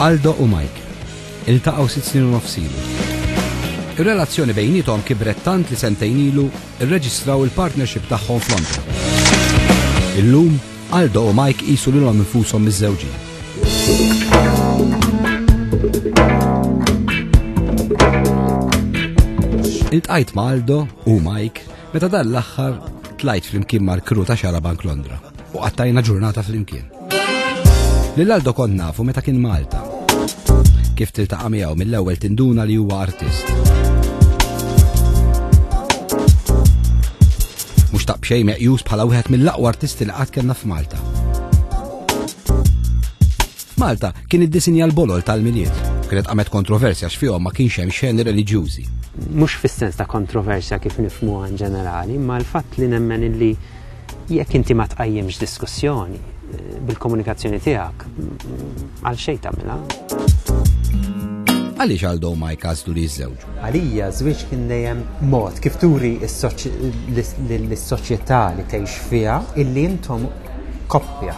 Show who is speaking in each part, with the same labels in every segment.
Speaker 1: Aldo u Mike. Iltaqgħu sitt snin u nofsilu. Ir-relazzjoni bejnietom kibret tant li sentejn ilu rreġistraw il-partnership tagħhom f'Londra. Illum Aldo u Mike qisu lilhom infushom miżżewġin. Iltqajt ma' Aldo u Mike meta dan l-aħħar tlajt flimkien mal-kru ta' xara Bank Londra u qattajna ġurnata flimkien. Lil Aldo kont nafu meta kien Malta. Kif tiltaqa' miegħu mill-ewwel tinduna li huwa artist. Mhux ta' b'xejn meqjus bħala wieħed mill-aqwa artisti li qatt kellna f'Malta. Malta kien iddisinja l-bolol tal-miliet. Kienet qamet kontroversja x'fihom ma kienx hemm xeni reliġjużi. Mhux fis-sens
Speaker 2: ta' kontroversja kif nifmu in ġenerali, ma l-fatt li nemmen illi jekk inti ma tqajjimx diskussjoni eh, bil-komunikazzjoni tiegħek, għal xejn tagħmilha. Għaliex għal dow ma jkażlu li jiżżewġ? Għalija, żwieġ kien
Speaker 3: dejjem mod kif turi lis-soċjetà li tgħix fiha illi intom koppja.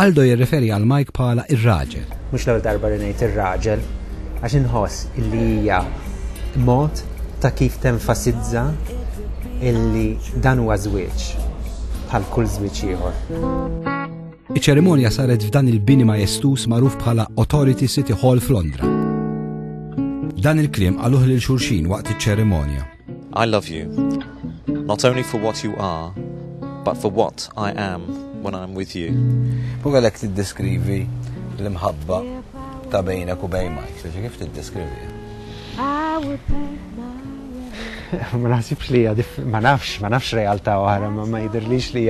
Speaker 1: Aldo jirreferi għal Mike bħala r-raġel. Mhux l-ewwel darba li
Speaker 3: ngħid ir-raġel, għax inħoss illi hija mod ta' kif tenfasizza illi dan huwa żwieġ bħal kull żwieġ ieħor.
Speaker 1: Iċ-ċerimonja saret f'dan il-bini majestuż magħruf bħala Authority City Hall f'Londra. Dan il-kliem qaluh lil xulxin waqt iċ-ċerimonja. I love you,
Speaker 4: not only for what you are, but for what I am when I'm with you. U għalek
Speaker 5: t-deskrivi l-imħabba ta' bejnek u bejn Mike, xaġi kif t-deskrivi?
Speaker 3: Ma nasibx li ma nafx, ma nafx realtà oħra, ma jidirlix li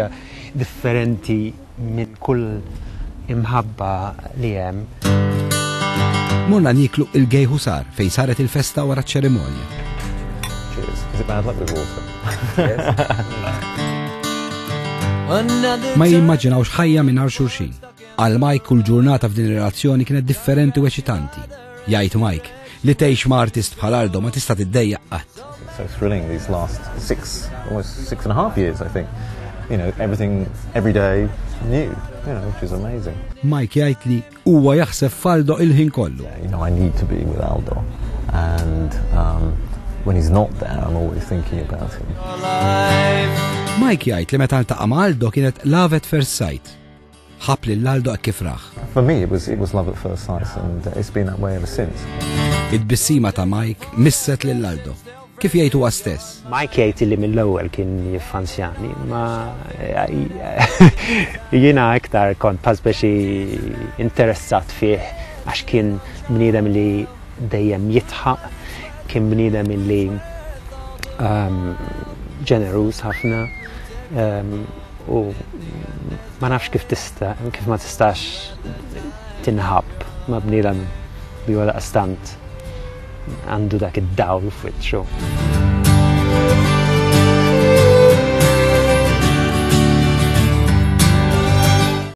Speaker 3: differenti minn kull imħabba li hemm.
Speaker 1: Morna nieklu il-gay ħusar fejn saret il-festa wara ċ-ċerimonja. Ma jimmaġinawx ħajja mingħajr xulxin. Għal Mike kull ġurnata f'din ir-relazzjoni kienet differenti u eċitanti. Jgħid Mike, li tgħix ma' artist bħal Ardo ma tista' tiddejjaq qatt. So thrilling these
Speaker 5: last six, almost six and a half years, I think. You know, everything, every day, new, you know, which is amazing. Mike jgħid li
Speaker 1: huwa jaħseb f'Aldo il-ħin kollu. You know, I need to be
Speaker 5: with Aldo. And um, when he's not there, I'm always thinking about him.
Speaker 1: Mike jgħid li meta ntaqa' ma' Aldo kienet lavet first sight Ħabb lil Aldo hekk kif rah. For me it was it was love
Speaker 5: at first sight and it's been that way ever since. It-tbissima
Speaker 1: ta' Mike misset lil Aldo. Kif jgħid huwa stess. Mike jgħid illi mill-ewwel
Speaker 2: kien jiffansjani, ma jiena iktar kont pażbex interessat fih għax kien bniedem li dejjem jidħaq, kien bniedem illi ehm, ġeneruż ħafna, ehm, U ma nafx kif tista, kif ma tistax tinħab ma bniedem li wara stant għandu dak id-dawl f'wiċċu.